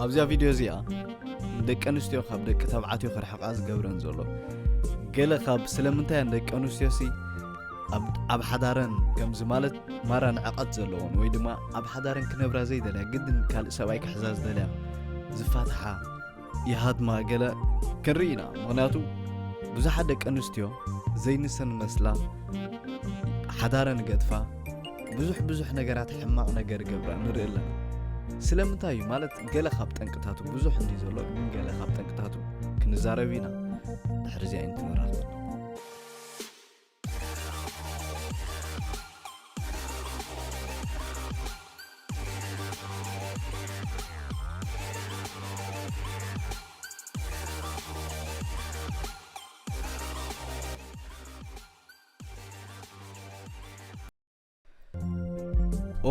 ኣብዚኣ ቪድዮ እዚኣ ንደቂ ኣንስትዮ ካብ ደቂ ተባዕትዮ ክርሕቓ ዝገብረን ዘሎ ገለ ካብ ስለምንታይ እየን ደቂ ኣንስትዮ ሲ ኣብ ሓዳረን ከምዚ ማለት ማራ ንዕቐት ዘለዎን ወይ ድማ ኣብ ሓዳረን ክነብራ ዘይደልያ ግድን ካልእ ሰብኣይ ክሕዛ ዝደልያ ዝፋትሓ ይሃድማ ገለ ክንርኢ ኢና ምክንያቱ ብዙሓት ደቂ ኣንስትዮ ዘይንሰን መስላ ሓዳረን ገድፋ ብዙሕ ብዙሕ ነገራት ሕማቕ ነገር ገብራ ንርኢ ኣለና ስለምንታይ እዩ ማለት ገለ ካብ ጠንቅታቱ ብዙሕ እንዲ ዘሎ ግን ገለ ካብ ጠንቅታቱ ክንዛረብ ኢና ድሕሪ እዚኣ ይንትንራኽ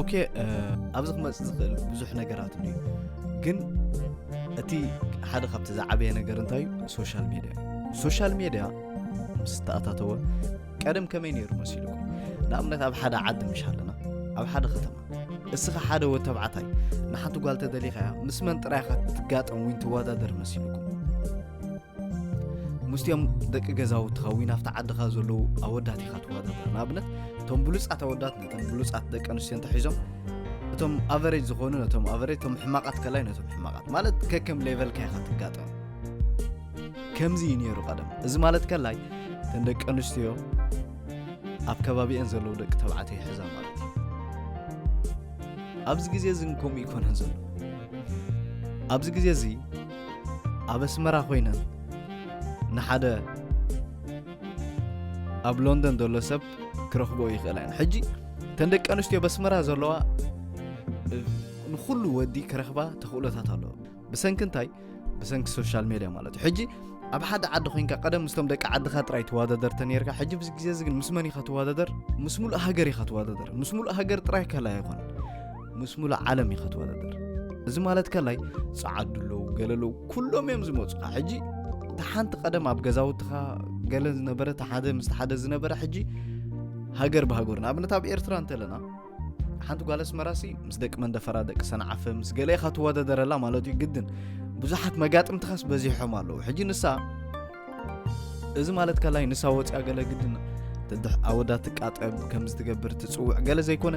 ኦኬ ኣብዚ ክመፅእ ዝኽእል ብዙሕ ነገራት እዩ ግን እቲ ሓደ ካብቲ ዝዓበየ ነገር እንታይ እዩ ሶሻል ሜድያ ሶሻል ሜድያ ምስ ተኣታተወ ቀደም ከመይ ነይሩ መሲልኩም ንኣብነት ኣብ ሓደ ዓዲ ምሽ ኣለና ኣብ ሓደ ከተማ እስኻ ሓደ ወ ተባዕታይ ንሓንቲ ጓል ተደሊኻ ምስ መን ጥራይኻ ትጋጠም ወይ ትወዳደር መሲልኩም ምስቲኦም ደቂ ገዛውትኻ ወይ ናብቲ ዓድኻ ዘለዉ ኣወዳት ኢኻ ትዋዳደር ንኣብነት እቶም ብሉፃት ኣወዳት ነተን ብሉፃት ደቂ ኣንስትዮ እንተሒዞም እቶም ኣቨሬጅ ዝኾኑ ነቶም ኣቨሬጅ እቶም ሕማቓት ከላይ ነቶም ሕማቓት ማለት ከከም ሌቨልካ ኢኻ ትጋጠም ከምዚ እዩ ነይሩ ቀደም እዚ ማለት ከላይ እተን ደቂ ኣንስትዮ ኣብ ከባቢአን ዘለዉ ደቂ ተባዕትዮ ይሕዛ ማለት እዩ ኣብዚ ግዜ እዚ ከምኡ ይኮነን ዘሎ ኣብዚ ግዜ እዚ ኣብ ኣስመራ ኮይነን ንሓደ ኣብ ሎንደን ዘሎ ሰብ ክረኽቦ ይኽእላ እየን ሕጂ እተን ደቂ ኣንስትዮ ኣብ ኣስመራ ዘለዋ ንኩሉ ወዲ ክረኽባ ተኽእሎታት ኣለዎ ብሰንኪ እንታይ ብሰንኪ ሶሻል ሜድያ ማለት እዩ ሕጂ ኣብ ሓደ ዓዲ ኮንካ ቀደም ምስቶም ደቂ ዓድኻ ጥራይ ትዋዳደር ተነርካ ሕጂ ብዚ ግዜ እዚ ግን ምስ መን ኢኻ ትዋዳደር ምስ ሙሉእ ሃገር ኢኻ ትዋዳደር ምስ ሙሉእ ሃገር ጥራይ ከላ ኣይኮነን ምስ ሙሉእ ዓለም እዩ ክትወዳደር እዚ ማለት ከላይ ጸዓዱ ኣለዉ ገለ ኣለዉ ኩሎም እዮም ዝመፁኻ ሕጂ እቲ ሓንቲ ቀደም ኣብ ገዛውትኻ ገለ ዝነበረ እቲ ሓደ ምስ ሓደ ዝነበረ ሕጂ ሃገር ብሃገር ንኣብነት ኣብ ኤርትራ እንተለና ሓንቲ ጓል ኣስመራሲ ምስ ደቂ መንደፈራ ደቂ ሰንዓፈ ምስ ገለ ኢኻ ትወዳደረላ ማለት እዩ ግድን ብዙሓት መጋጥምትኻስ በዚሖም ኣለዉ ሕጂ ንሳ እዚ ማለት ካላይ ንሳ ወፂኣ ገለ ግድን ትድሕ ኣወዳ ትቃጠብ ከም ዝትገብር ትፅውዕ ገለ ዘይኮነ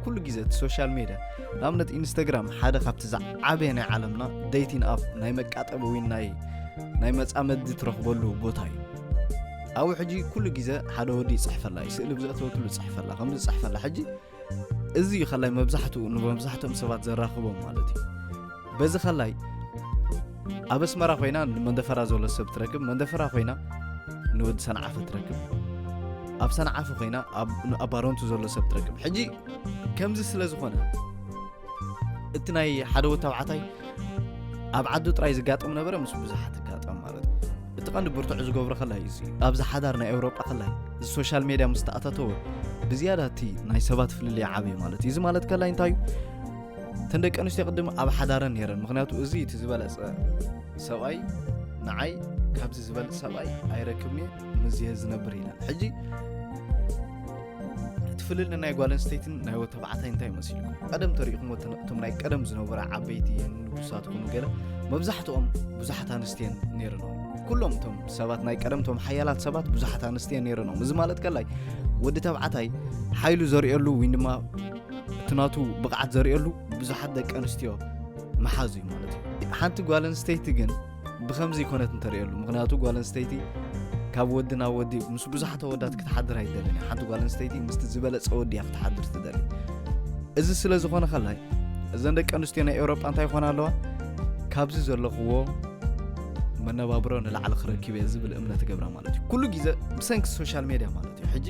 ኩሉ ግዜ እቲ ሶሻል ሜድያ ንኣብነት ኢንስታግራም ሓደ ካብቲ ዝዓበየ ናይ ዓለምና ደይቲን ኣፍ ናይ መቃጠቢ ወይ ናይ ናይ መፃመዲ ትረኽበሉ ቦታ እዩ ኣብኡ ሕጂ ኩሉ ግዜ ሓደ ወዲ ይፅሕፈላ እዩ ስእሊ ብዘእተወትሉ ይፅሕፈላ ከምዚ ይፅሕፈላ ሕጂ እዚ እዩ ከላይ መብዛሕትኡ ንመብዛሕትኦም ሰባት ዘራኽቦም ማለት እዩ በዚ ከላይ ኣብ ኣስመራ ኮይና ንመንደፈራ ዘሎ ሰብ ትረክብ መንደፈራ ኮይና ንወዲ ሰንዓፈ ትረክብ ኣብ ሰንዓፈ ኮይና ኣብ ባሮንቱ ዘሎ ሰብ ትረክብ ሕጂ ከምዚ ስለ ዝኾነ እቲ ናይ ሓደ ወታብዓታይ ኣብ ዓዱ ጥራይ ዝጋጠም ነበረ ምስ ብዙሓት ጋጠም ማለት እቲ ቀንዲ ብርትዑ ዝገብሮ ከላይ እዚ ኣብዚ ሓዳር ናይ ኤውሮጳ ከላይ እዚ ሶሻል ሜድያ ምስ ተኣታተወ ብዝያዳ እቲ ናይ ሰባት ፍልልይ ዓብዩ ማለት እዩ እዚ ማለት ከላይ እንታይ እዩ እተን ደቂ ኣንስትዮ ቅድም ኣብ ሓዳረን ነረን ምክንያቱ እዚ እቲ ዝበለፀ ሰብኣይ ንዓይ ካብዚ ዝበልፅ ሰብኣይ ኣይረክብኒ ምዝየ ዝነብር ኢለን ሕጂ እቲ ፍልል ናይ ጓል ኣንስተይትን ናይ ወ ተባዕታይ እንታይ መሲልኩም ቀደም ተሪእኹም እቶም ናይ ቀደም ዝነበረ ዓበይቲ ንጉሳት ኩኑ ገለ መብዛሕትኦም ብዙሓት ኣንስትየን ነይረኖም ኩሎም እቶም ሰባት ናይ ቀደም እቶም ሓያላት ሰባት ብዙሓት ኣንስትየን ነይረኖም እዚ ማለት ከላይ ወዲ ተባዕታይ ሓይሉ ዘርእየሉ ወይ ድማ እቲ ናቱ ብቕዓት ዘርእየሉ ብዙሓት ደቂ ኣንስትዮ መሓዙ እዩ ማለት እዩ ሓንቲ ጓል ኣንስተይቲ ግን ብከምዚ ኮነት እንተርእየሉ ምክንያቱ ጓል ኣንስተይቲ ካብ ወዲ ናብ ወዲ ምስ ብዙሓት ወዳት ክትሓድር ኣይደልን ሓንቲ ጓል ኣንስተይቲ ምስቲ ዝበለፀ ወዲ እያ ክትሓድር ትደሊ እዚ ስለ ዝኾነ ከላይ እዘን ደቂ ኣንስትዮ ናይ ኤውሮጳ እንታይ ይኾና ኣለዋ ካብዚ ዘለኽዎ መነባብሮ ንላዕሊ ክረክብ እየ ዝብል እምነት ገብራ ማለት እዩ ኩሉ ግዜ ብሰንኪ ሶሻል ሜድያ ማለት እዩ ሕጂ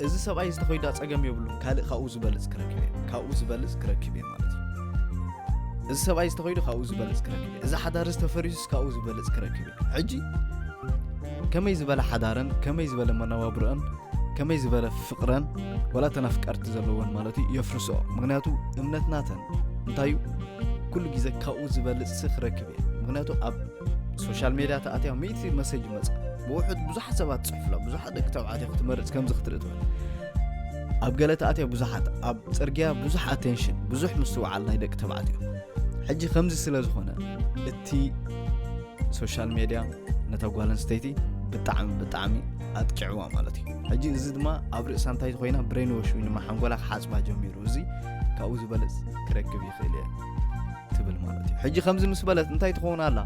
እዚ ሰብኣይ ዝተኸይዳ ፀገም የብሉን ካልእ ካብኡ ዝበልፅ ክረክብ እየ ካብኡ ዝበልፅ ክረክብ እየ ማለት እዩ እዚ ሰብኣይ ዝተኸይዱ ካብኡ ዝበለፅ ክረክብ እየ እዚ ሓዳር እዚ ተፈሪሱስ ካብኡ ዝበለፅ ክረክብ እየ ሕጂ ከመይ ዝበለ ሓዳረን ከመይ ዝበለ መነባብሮአን ከመይ ዝበለ ፍቅረን ወላ እተን ኣፍቀርቲ ዘለወን ማለት እዩ የፍርስኦ ምክንያቱ እምነት ናተን እንታይ እዩ ኩሉ ግዜ ካብኡ ዝበልፅ ሲ ክረክብ እየ ምክንያቱ ኣብ ሶሻል ሜድያ ተኣትያ ሚእቲ መሰጅ ይመፅእ ብውሑድ ብዙሓት ሰባት ፅሑፍላ ብዙሓት ደቂ ተባዕትዮ ክትመርፅ ከምዚ ክትርኢ ትብል ኣብ ገለ ተኣትዮ ብዙሓት ኣብ ጽርግያ ብዙሕ ኣቴንሽን ብዙሕ ምስትውዓል ናይ ደቂ ተባዕትዮ ሕጂ ከምዚ ስለ ዝኾነ እቲ ሶሻል ሜድያ ነታ ጓል ኣንስተይቲ ብጣዕሚ ብጣዕሚ ኣጥቂዕዋ ማለት እዩ ሕጂ እዚ ድማ ኣብ ርእሳ እንታይ ኮይና ብሬን ወሽ ድማ ሓንጎላ ክሓፅባ ጀሚሩ እዚ ካብኡ ዝበለፅ ክረክብ ይኽእል እየ ትብል ማለት እዩ ሕጂ ከምዚ ምስ በለት እንታይ ትኸውን ኣላ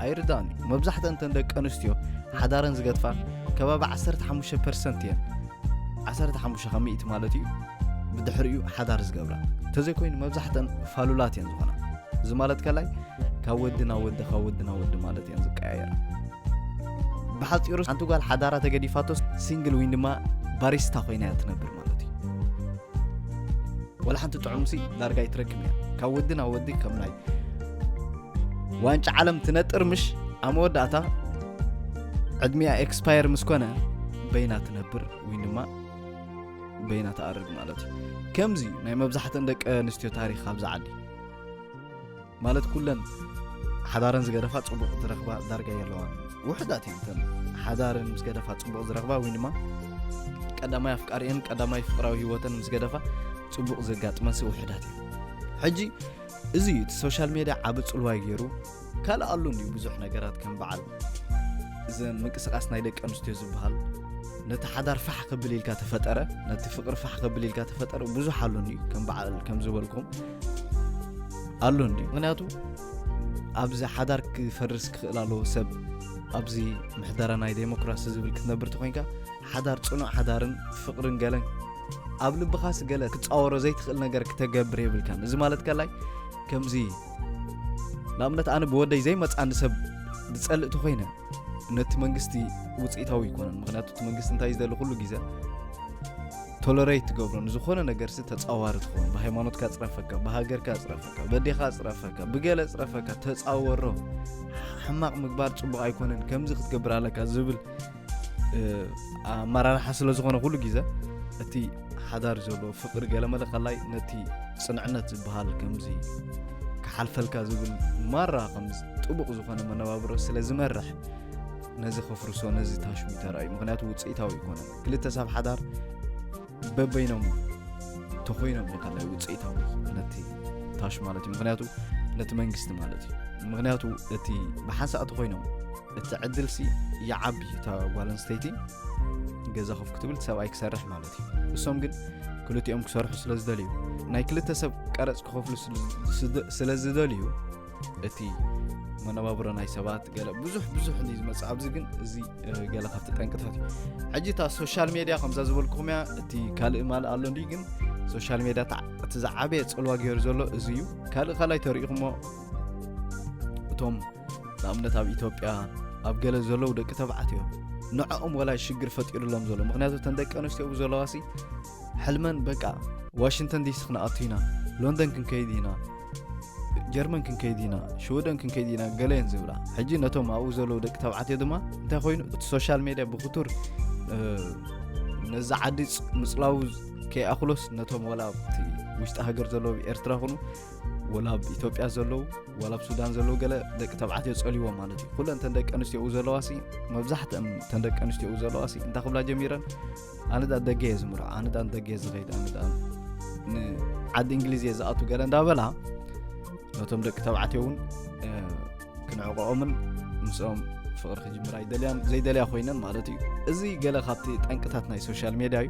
ኣይርዳእን እዩ መብዛሕተን እተን ደቂ ኣንስትዮ ሓዳረን ዝገድፋ ከባቢ 15 ፐርሰንት እየን 15 ካብ ሚእቲ ማለት እዩ ብድሕሪኡ ሓዳር ዝገብራ እንተዘይኮይኑ መብዛሕተን ፋሉላት እየን ዝኾና እዚ ማለት ከላይ ካብ ወዲ ናብ ወዲ ካብ ወዲ ናብ ወዲ ማለት እየን ዝቀያየራ ብሓፂሩ ሓንቲ ጓል ሓዳራ ተገዲፋቶ ሲንግል ወይ ድማ ባሪስታ ኮይና እያ ትነብር ማለት እዩ ወላ ሓንቲ ጥዑም ሲ ዳርጋ ኣይትረክብ እያ ካብ ወዲ ናብ ወዲ ከም ናይ ዋንጫ ዓለም ትነጥር ምሽ ኣብ መወዳእታ ዕድሚያ ኤክስፓየር ምስ ኮነ በይና ትነብር ወይ ድማ በይና ትኣርግ ማለት እዩ ከምዚ እዩ ናይ መብዛሕትእን ደቂ ኣንስትዮ ታሪክ ኣብዚ ዓዲ ማለት ኩለን ሓዳረን ዝገደፋ ፅቡቕ ዝረኽባ ዳርጋ የለዋን ውሕዳት እየን እተን ሓዳረን ምስ ገደፋ ፅቡቕ ዝረኽባ ወይ ድማ ቀዳማይ ኣፍቃሪአን ቀዳማይ ፍቅራዊ ህይወተን ምስ ገደፋ ፅቡቕ ዘጋጥመንሲ ውሕዳት እዩ ሕጂ እዚ እዩ እቲ ሶሻል ሜድያ ዓብ ፅልዋይ ገይሩ ካልእ ኣሉ እንዩ ብዙሕ ነገራት ከም በዓል እዚ ምንቅስቃስ ናይ ደቂ ኣንስትዮ ዝበሃል ነቲ ሓዳር ፋሕ ክብል ኢልካ ተፈጠረ ነቲ ፍቅሪ ፋሕ ክብል ኢልካ ተፈጠረ ብዙሕ ኣሉን እዩ ከም በዓል ከም ዝበልኩም ኣሎ እንዲ ምክንያቱ ኣብዚ ሓዳር ክፈርስ ክኽእል ኣለዎ ሰብ ኣብዚ ምሕደራ ናይ ዴሞክራሲ ዝብል ክትነብር ተኮይንካ ሓዳር ፅኑዕ ሓዳርን ፍቅርን ገለን ኣብ ልብኻስ ገለ ክፃወሮ ዘይትኽእል ነገር ክተገብር የብልካን እዚ ማለት ከላይ ከምዚ ንኣብነት ኣነ ብወደይ ዘይመፅኣኒ ሰብ ዝፀልእ ተኮይነ ነቲ መንግስቲ ውፅኢታዊ ይኮነን ምክንያቱ እቲ መንግስቲ እንታይ ዝደሊ ኩሉ ግዜ ቶለሬት ትገብሮ ንዝኾነ ነገርሲ ተፃዋሪ ትኸውን ብሃይማኖትካ ፅረፈካ ብሃገርካ ፅረፈካ በዴኻ ፅረፈካ ብገለ ፅረፈካ ተፃወሮ ሕማቕ ምግባር ፅቡቕ ኣይኮነን ከምዚ ክትገብር ኣለካ ዝብል ኣመራርሓ ስለ ዝኾነ ኩሉ ግዜ እቲ ሓዳር ዘሎ ፍቅሪ ገለመለ ከላይ ነቲ ፅንዕነት ዝበሃል ከምዚ ክሓልፈልካ ዝብል ማራ ከም ጥቡቕ ዝኾነ መነባብሮ ስለ ዝመርሕ ነዚ ከፍርሶ ነዚ ታሽሙ ተራእዩ ምክንያቱ ውፅኢታዊ ይኮነ ክልተ ሰብ ሓዳር በበይኖም ተኮይኖም እዩ ከላይ ውፅኢታዊ ነቲ ታሽ ማለት እዩ ምክንያቱ ነቲ መንግስቲ ማለት እዩ ምክንያቱ እቲ ብሓንሳእ ተኮይኖም እቲ ዕድልሲ ይዓቢ እታ ጓል ኣንስተይቲ ገዛ ኮፍ ክትብል ሰብኣይ ክሰርሕ ማለት እዩ እሶም ግን ክልቲኦም ክሰርሑ ስለ ዝደልዩ ናይ ክልተ ሰብ ቀረፅ ክኸፍሉ ስለ ዝደልዩ እቲ መነባብሮ ናይ ሰባት ገለ ብዙሕ ብዙሕ እዩ ዝመፅእ ኣብዚ ግን እዚ ገለ ካብቲ ጠንቅታት እዩ ሕጂ እታ ሶሻል ሜድያ ከምዛ ዝበልኩም እያ እቲ ካልእ ማልእ ኣሎ እንዲ ግን ሶሻል ሜድያ እቲ ዝዓበየ ፅልዋ ገይሩ ዘሎ እዚ እዩ ካልእ ካልይ ተሪኢኹሞ እቶም ንኣብነት ኣብ ኢትዮጵያ ኣብ ገለ ዘለዉ ደቂ ተባዓት እዮም ንዕኦም ወላይ ሽግር ፈጢሩሎም ዘሎ ምክንያቱ እተን ደቂ ኣንስትዮ ብዘለዋሲ ሕልመን በቃ ዋሽንተን ዲሲ ክንኣቱ ኢና ሎንደን ክንከይድ ኢና ጀርመን ክንከይድ ኢና ሽወደን ክንከይድ ኢና ገለየን ዝብላ ሕጂ ነቶም ኣብኡ ዘለዉ ደቂ ተባዕትዮ ድማ እንታይ ኮይኑ እቲ ሶሻል ሜድያ ብክቱር ነዚ ዓዲ ምፅላው ከይኣክሎስ ነቶም ወላ ውሽጢ ሃገር ዘለዉ ኤርትራ ኩኑ ወላ ኣብ ኢትዮጵያ ዘለዉ ወላ ኣብ ሱዳን ዘለዉ ገለ ደቂ ተባዕትዮ ጸልዎም ማለት እዩ ኩለን ተን ደቂ ኣንስትዮ ኡ ዘለዋ ሲ መብዛሕትአን ተን ደቂ ኣንስትዮ ኡ ዘለዋ ሲ እንታይ ክብላ ጀሚረን ኣነ ዳ ደገ እየ ዝምርዖ ኣነ ዳ ደገ እየ ዝኸይድ ኣነ ዳ ንዓዲ እንግሊዝ እየ ዝኣቱ ገለ እንዳበላ ነቶም ደቂ ተባዕትዮ እውን ክንዕቆኦምን ምስኦም ፍቕሪ ክጅምራ ይደልያን ዘይደልያ ኮይነን ማለት እዩ እዚ ገለ ካብቲ ጠንቅታት ናይ ሶሻል ሜድያ እዩ